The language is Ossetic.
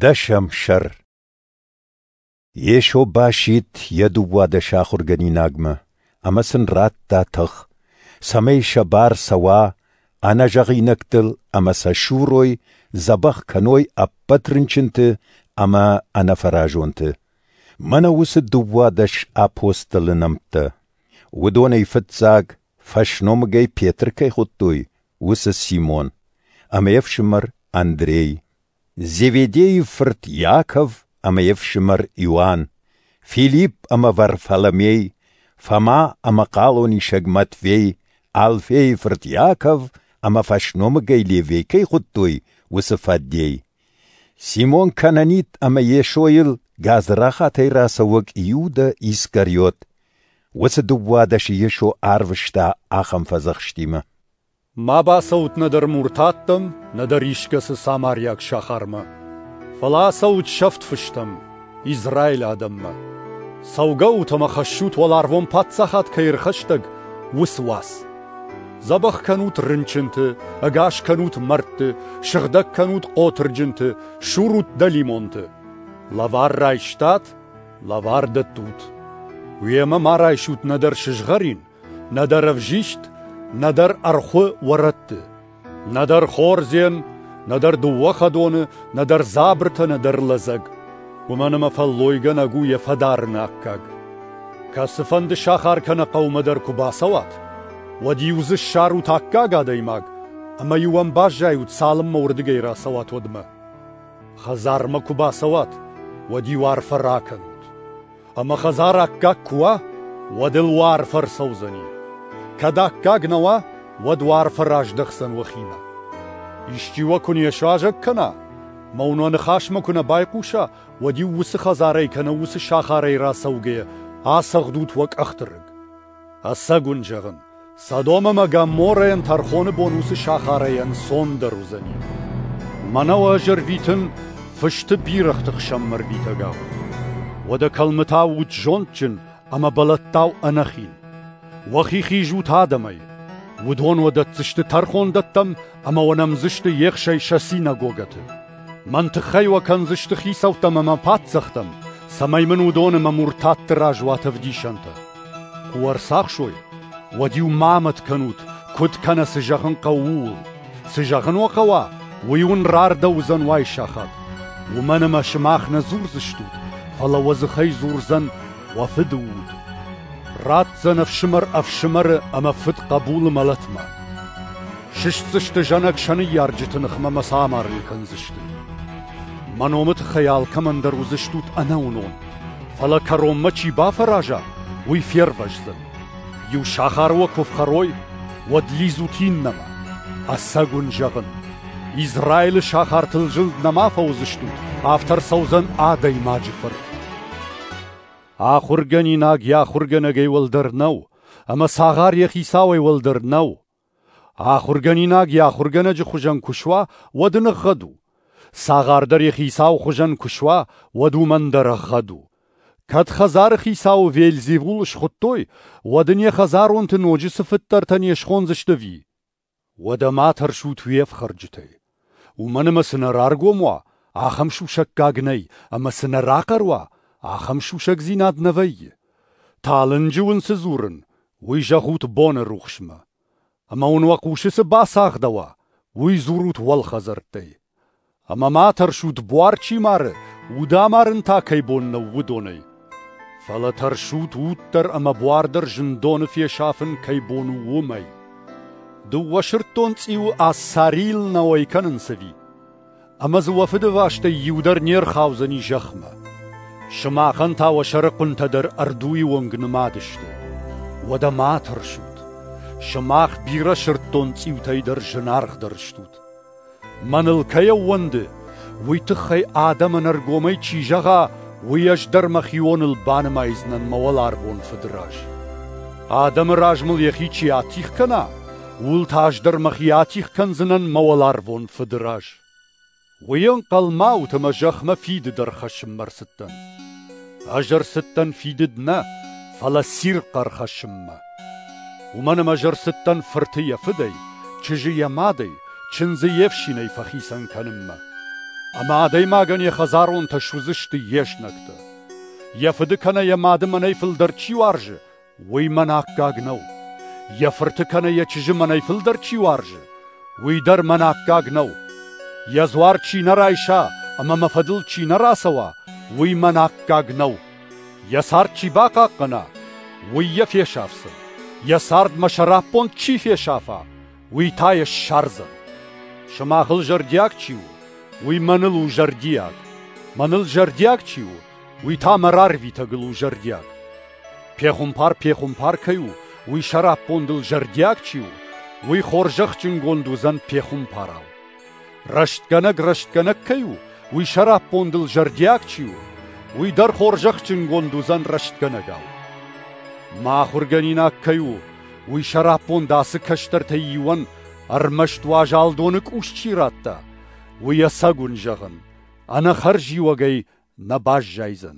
Дӕсӕм сӕр Йесо басидт йӕ дыууадӕс ахуыргӕнинагмӕ ӕмӕ сын радта тых, цӕмӕй сӕ бар цӕуа ӕнӕзӕгъинӕгтыл ӕмӕ сӕ сурой, дзӕбӕх кӕной ӕппӕт рынчынты ӕмӕ ӕнӕфӕразонты. Мӕнӕ уыцы дыууадӕс апостолы нӕмттӕ. Уыдонӕй фыццаг Фӕсномыгӕй Петр кӕй хуыдтой, уыцы Симон, ӕмӕ йе фсымӕр Андрей, Зеведейы фырт Иаков ӕмӕ йе фсымӕр Иоанн, Филипп ӕмӕ Варфоломей, Фома ӕмӕ хъалонисӕг Матвей, Алфейы фырт Иаков ӕмӕ фӕсномыгӕй Левей кӕй хуыдтой, уыцы фӕдей. Симон Кананит ӕмӕ Йесойыл гадзрахатӕй рацӕуӕг Иудӕ Искариот. Уыцы дыууадӕсы Йесо арвыста ахӕм фӕдзӕхстимӕ: «Ма бацӕут нӕдӕр муртаттӕм, нӕдӕр искӕцы самариаг сахармӕ. Фӕлӕ ацӕут сӕфт фыстӕм. Израилы адӕммӕ. Цӕугӕ ут ӕмӕ хӕссут, уӕларвон паддзахад кӕй ӕрхӕстӕг, уыцы уац. Дзӕбӕх кӕнут рынчынты, ӕгас кӕнут мӕрдты, сыгъдӕг кӕнут хъотырджынты, сурут дӕлимонты. Лӕвар райстат, лӕвар дӕттут. Уемӕ ма райсут нӕдӕр сызгъӕрин, Нӕдӕр ӕвзист, нӕдӕр ӕрхуы уӕрӕтты, нӕдӕр хордзен, нӕдӕр дыууӕ хӕдоны, нӕдӕр дзабыртӕ, нӕдӕр лӕдзӕг. Уымӕн ӕмӕ фӕллойгӕнӕг у йӕ фӕдарыны аккаг. Кӕцыфӕнды сахар кӕнӕ хъӕумӕ дӕр куы бацӕуат, уӕд-иу дзы ссарут аккаг адӕймаг ӕмӕ-иу ӕм баззайут, цалынмӕ уырдыгӕй рацӕуат, уӕдмӕ. Хӕдзармӕ куы бацӕуат, уӕд-иу арфӕ ракӕнут. ӕма хӕдзар аккаг ку уа, уӕд ыл уӕ арф ӕрцӕудзӕни. Кӕд аккаг нӕ уа, уӕд уӕ арфӕ раздӕхдзӕн уӕхимӕ. Исчи уӕ ку не суазӕг кӕна, ма уын уӕ ныхасмӕ куы нӕ байхъуса, уӕд-иу уыцы хӕдзарӕй кӕнӕ уыцы сахарӕй рацӕугӕйӕ ацӕгъдут уӕ къӕхты рыг. Ӕцӕг уын зӕгъын, Содом ӕмӕ Гоморрӕйӕн тӕрхоны бон уыцы сахарӕй ӕнцондӕр уыдзӕни. Мӕнӕ уӕ ӕз ӕрвитын фысты бирӕгъты хсӕнмӕ ӕрвитӕгау. Уӕдӕ кӕлмытау ут зондджын ӕмӕ бӕлӕттау ӕнӕхин. Уӕхи хиз ут адӕмӕй. Уыдон уӕ дӕтдзысты тӕрхондӕттӕм ӕмӕ уӕ нӕмдзысты ехсӕй сӕ синагогӕты. Мӕн тыххӕй уӕ кӕндзысты хицӕуттӕм ӕмӕ паддзӕхтӕм, цӕмӕй мын уыдон ӕмӕ муртатты раз уат ӕвдисӕнтӕ. Куы уӕ ӕрцахсой, уӕд-иу ма амӕт кӕнут, куыд кӕнӕ цы зӕгъын хъӕуы, ууыл. Цы зӕгъын уӕ хъӕуа, уый уын рардӕуыдзӕн уай сахат. Уымӕн ӕмӕ сымах нӕ дзурдзыстут, фӕлӕ уӕ дзыхӕй дзурдзӕн уӕ фыды уд. Ратдзӕн ӕфсымӕр ӕфсымӕры ӕмӕ фыд хъӕбулы мӕлӕтмӕ. Сыстдзысты зӕнӕг сӕ ныййарджыты ныхмӕ мӕ сӕ амарын кӕндзысты. Мӕ номы тыххӕй алкӕмӕндӕр уыдзыстут ӕнӕуынон, фӕлӕ кӕронмӕ чи бафӕраза, уый фервӕздзӕн. Иу сахар уӕ куы фхӕрой, уӕд лидзут иннӕмӕ. Ӕцӕг уын зӕгъын, Израилы сахартыл зылд нӕма фӕуыдзыстут, афтӕ ӕрцӕудзӕн адӕймаджы фырт. Ахуыргӕнинаг йӕ ахуыргӕнӕгӕй уӕлдӕр нӕу, ӕмӕ цагъар йӕ хицауӕй уӕлдӕр нӕу. Ахуыргӕнинаг йӕ ахуыргӕнӕджы хуызӕн куы суа, уӕд ын ӕгъгъӕд у. цагъардӕр йӕхи цауы хуызӕн куы суа, уӕд уымӕн дӕр ӕгъгъӕд у. кӕд хӕдзары хицауы вельзевул схуыдтой, уӕд ын йӕ хӕдзаронты ноджы цы фыддӕртӕ не схондзысты ӕви? Уӕдӕ ма тӕрсут уе фхӕрджытӕй. Уымӕн ӕмӕ цы нӕ раргом уа, ахӕм сусӕггаг нӕй, ӕмӕ цы нӕ рахъӕр уа, ахӕм сусӕгдзинад нӕ вӕййы. талынджы уын цы дзурын, уый зӕгъут боны рухсмӕ. Ӕмӕ уын уӕ хъусы цы бацагъдӕуа, уый дзурут уӕлхӕдзӕрттӕй. Ӕмӕ ма тӕрсут, буар чи мары, уд амарын та кӕй бон нӕу, уыдонӕй. Фӕлӕ тӕрсут уддӕр ӕмӕ буардӕр зындоны фесафын кӕй бон у, уымӕй. Дыууӕ сырддон цъиуы Ассарийыл нӕ уӕй кӕнынц ӕви? Ӕмӕ дзы уӕ фыдыбӕстӕй иу дӕр не рхаудзӕни зӕхмӕ. Сымахӕн та уӕ сӕрыхъуынтӕ дӕр ӕрдуйы онг нымад сты. Уӕдӕ ма тӕрсут. Сымах бирӕ сырддон цъиутӕй дӕр зынаргъдӕр стут. Мӕныл кӕй ӕууӕнды, уый тыххӕй адӕмӕн ӕргомӕй чи зӕгъа, уый ӕз дӕр мӕхионыл банымайдзынӕн мӕ уӕларвон Фыды раз. Адӕмы раз мыл йӕхи чи атигъ кӕна, ууыл та ӕз дӕр мӕхи атигъ кӕндзынӕн мӕ уӕларвон Фыды раз. Уый ӕнхъӕлмӕ ут ӕмӕ зӕхмӕ фиды дӕр хӕссынмӕ ӕрцыдтӕн. Ӕз ӕрцыдтӕн фидыд нӕ, фӕлӕ цирхъ ӕрхӕссынмӕ. Уымӕн ӕмӕ ӕз ӕрцыдтӕн фырты йӕ фыдӕй, чызджы йӕ мадӕй, чындзы йе фсинӕй фӕхицӕн кӕнынмӕ. Ӕмӕ адӕймагӕн йӕ хӕдзаронтӕ суыдзысты йе знӕгтӕ. Йӕ фыды кӕнӕ йӕ мады мӕнӕй фылдӕр чи уарзы, уый мӕн аккаг нӕу. Йӕ фырты кӕнӕ йӕ чызджы мӕнӕй фылдӕр чи уарзы, уый дӕр мӕн аккаг нӕу. Йӕ дзуар чи нӕ райса ӕмӕ мӕ фӕдыл чи нӕ рацӕуа, уый мӕн аккаг нӕу. Йӕ цард чи бахъахъхъӕна, уый йӕ фесафдзӕн. Йӕ цардмӕ сӕраппонд чи фесафа, уый та йӕ ссардзӕн. Сымахыл зӕрдиаг чи у, уый мӕныл у зӕрдиаг. Мӕныл зӕрдиаг чи у, уый та мӕ рарвитӕгыл у зӕрдиаг. Пехуымпар пехуымпар кӕй у, уый сӕраппондыл зӕрдиаг чи у, уый хорзӕхджынгонд уыдзӕн пехуымпарау. Рӕстгӕнӕг рӕстгӕнӕг кӕй у, уый сӕраппондыл зӕрдиаг чи у, уый дӕр хорзӕхджынгонд уыдзӕн рӕстгӕнӕгау. Мӕ ахуыргӕнинаг кӕй у, уый сӕраппонд ацы кӕстӕртӕй иуӕн ӕрмӕст уазал доны къус чи радта, уый ӕцӕгуын зӕгъын, ӕнӕхӕрзиуӕгӕй нӕ баззайдзӕн.